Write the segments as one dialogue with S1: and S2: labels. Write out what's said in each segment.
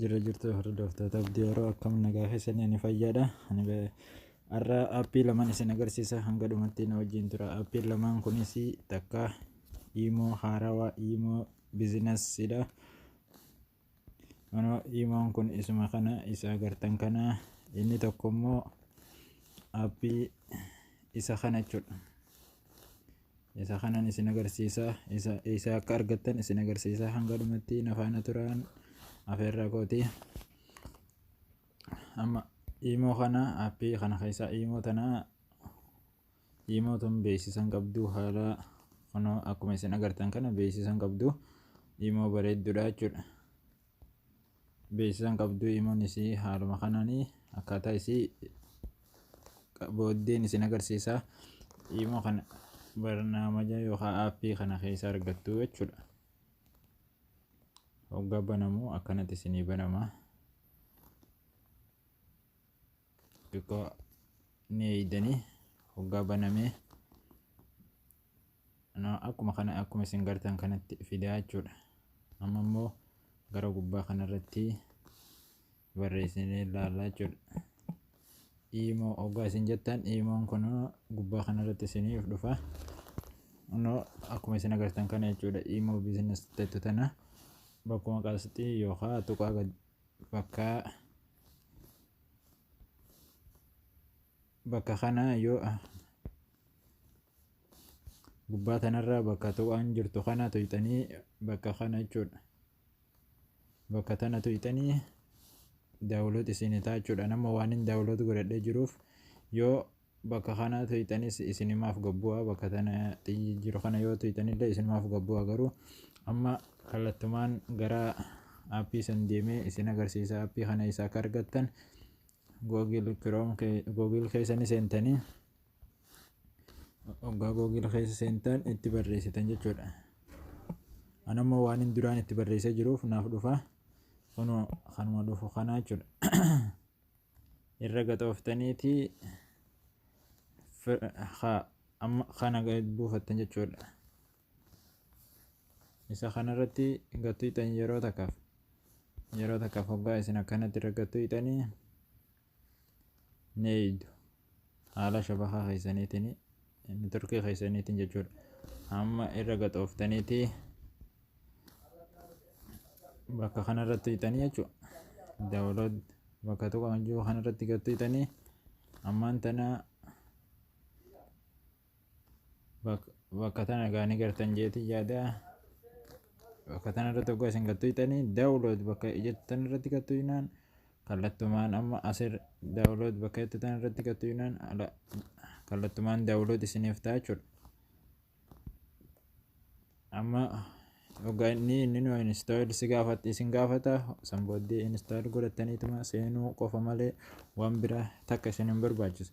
S1: Jira jirtu hordoftoota abdii yeroo akkam nagaa keessanii ni fayyaadha. Ani be- Har'a aappii lamaan isin agarsiisa hanga dhumatti na wajjin tura. Aappiin lamaan kunis takka iimoo haarawaa iimoo bizinasiidha. Anoo iimoon kun isuma kana isa agartan kana inni tokko immoo appii isa kana jechuudha. Isa kanan isin agarsiisa isa isa akka argattan isin agarsiisa hanga dhumatti na faana turaan afeerraa kooti. Amma iimoo kana appii kana keessaa iimoo tana Imoo tun beeksisan qabdu haala kunoo akkuma isin agartan kana beeksisan qabdu imoo bareeddudha jechuudha. Beeksisan qabdu imoon isii haaluma kanaan akkaataa isii booddeen isin agarsiisa. Imoo kana barnaamaja yookaan aappii kana keessa argattu jechuudha. Hoggaa banamu akkanatti isinii banama. xiqqoo ni eeydanii hoggaa banamee akkuma kana akkuma isin gartan kanatti fidaa jechuudha amma immoo gara gubbaa kanarratti barreessinee ilaallaa jechuudha iimoo hoggaa isin jettan iimoon kun gubbaa kanarratti isiniif dhufa no akkuma isin agartan kana jechuudha iimoo bizinas jettu tana bakkuma qasxii yookaan tuqaa Bakka bakka kana yoo gubbaa tanarra bakka tuqaan jirtu kana tuqxanii bakka kana jechuudha. Bakka tana tuqxanii daawuloot isinii ta'a jechuudha. Nama waan hin daawuloot godhadhee jiruuf yoo Bakka kana tuyxanis isinimaaf gabbu'aa bakka tana xiyyi jiru kana yoo tuyxanillee isinumaaf gabbu'aa garuu amma kallattumaan gara aappii san deemee isin agarsiisa aappii kana isa akka argattan google chrome kee- google keessa ni seentanii oggaa google keessa seentan itti barreessitan jechuudha anammoo waan hin duraan itti barreessee jiruuf naaf dhufa kunoo kanuma dhufu kanaa jechuudha irra gaxooftaniiti kana buufattan jechuudha. Isa kanarratti gatuyxan yeroo takkaaf yeroo takkaaf hoggaa isin akkanatti irra gatuyxanii ni eeydu. haala shabakaa keessaniitiin neetworkii keessaniitiin jechuudha amma irra gaxooftaniiti bakka kanarratti hidhanii jechuudha daawulood bakka tokko kan jiru kanarratti gattiitanii ammaan tana bakka tana gaanii gartan jeetii yaada bakka tana irratti oggaa isin gattu itanii daawulood bakka jettan irratti gattu inaan kallattumaan amma asir daawulood bakka jettan irratti gattu inaan kallattumaan daawulood isiniif ta'a jechuudha. Amma hoggaa inni inni nu install si gaafatti isin gaafata san booddee install godhattaniituma seenuu qofa malee waan biraa takka isin hin barbaachisu.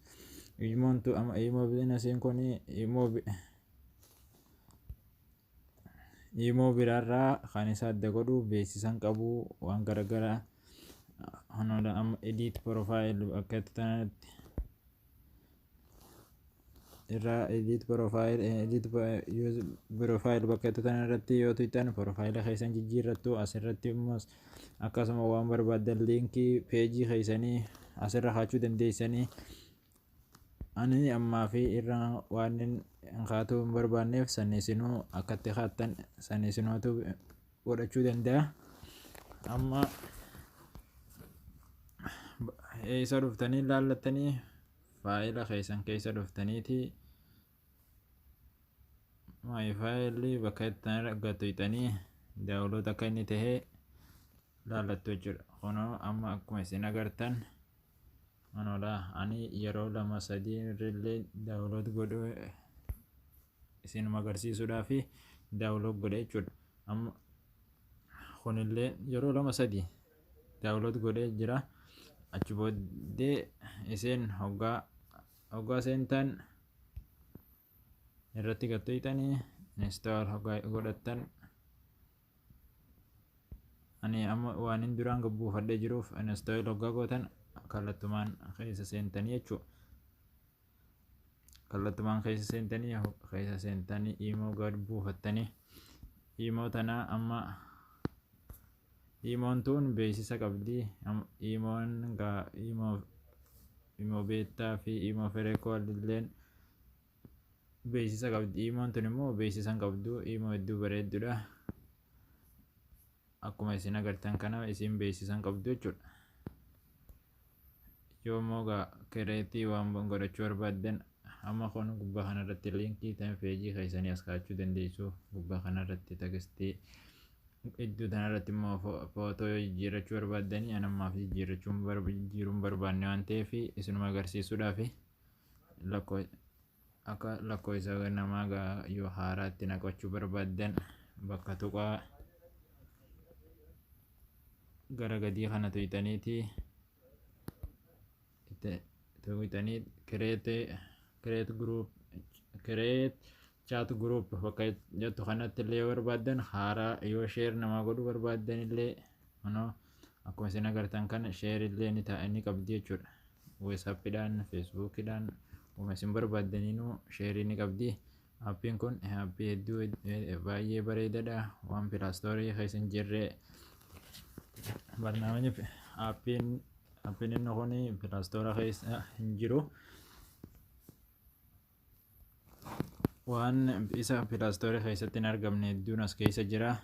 S1: Imoon tu amma imoo bizinasiin kun imoo imoo biraarraa kan isa adda godhu beeksisan qabu waan garaagaraa hanoodha amma edit profile akkatti tanatti irraa edit profile eh, edit pro- use profile bakka jettu tana irratti yoo tuqxan profile keessan jijjiirrattu asirratti immoo akkasuma waan barbaaddan liinkii peejii keessanii asirra kaachuu dandeessanii ani ammaa fi irra waan hin kaatuu hin barbaanneef san isinuu akkatti kaattan san isinootu godhachuu danda'a amma eessa dhuftanii ilaallattanii faayila keessan keessa dhuftaniiti maayi faayilli bakka itti argattu hixanii daawuloota akka inni ta'e ilaallattu jechuudha kunoo amma akkuma isin agartan Anodha ani yeroo lama sadii irrillee daawulood godhu isinuma agarsiisuudhaaf daawulood godhe jechuudha. Amma kunillee yeroo lama sadii daawulood godhee jira. Achi booddee isin hoggaa hoggaa seentan irratti gad tuqxanii install hoggaa godhattan ani amma waan hin duraan gabbuufadhee jiruuf install hoggaa gootan kallattumaan keessa seentanii jechuu kallattumaan keessa seentanii keessa seentanii imoo gad buufattanii imoo tanaa amma Imoon tuun beeksisa qabdi. Imoon Imo beettaa fi Imo ferekool illeen beeksisa qabdi. Imoon tun immoo beeksisa hin qabdu. Imo hedduu bareeddudha. Akkuma isin agartan kana isin beeksisa hin qabdu jechuudha. yoo immoo egaa kireetii waan godhachuu barbaaddan amma kun gubbaa kanarratti liinkii ta'in feejii keessanii as kaa'achuu dandeessu gubbaa kanarratti tagistii iddoo kanarratti immoo footoo yoo jijjiirrachuu barbaaddanii an ammaaf jijjiirrachuun jijjiiruun barbaanne waan ta'eef isinuma agarsiisuudhaaf lakkoo Akka lakkoofsa namaa gaa yoo haaraa itti naqachuu barbaaddan bakka tuqaa gara gadii kana tuyxaniiti itti tuyxanii kireete kireet guruup kireet chaat guruup bakka jettu kanatti illee yoo barbaaddan haaraa yoo sheer namaa godhuu barbaaddan illee kunoo akkuma isin agartan kana sheer illee ni ta'a ni qabdi jechuudha. Whatsappidhaan, Facebookidhaan wama isin barbaaddaninuu sheerii ni qabdi. Appiin kun appii hedduu baay'ee bareedadha. Waan pilaastoorii keessa hin jirre barnaamijni appiin appiin inni kun pilaastoora keessa hin jiru. Waan isa pilaastoorii keessatti hin argamne hedduun as keessa jira.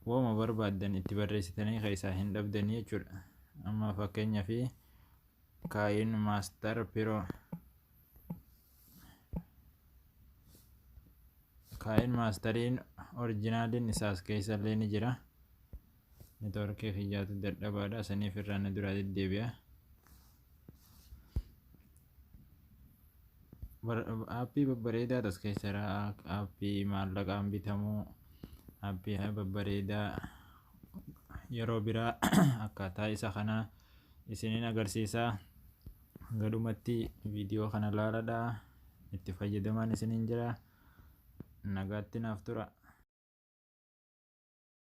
S1: Waanuma barbaaddan itti barreessitanii keessaa hin dhabdanii jechuudha. Amma fakkeenyaaf kaayin maastar piroo kaayin maastariin orijinaaliin isaas keessa illee ni jira. Networkii kiyyaatu dadhabaadha saniif irraa na duraa deddeebi'a. aappii babbareedaa as keessa jira aappii maallaqaan bitamu aappii babbareedaa yeroo biraa akkaataa isa kanaa isinin agarsiisa gadhumatti viidiyoo kana laaladha itti fayyadamaan isinin jira nagaatti naaf tura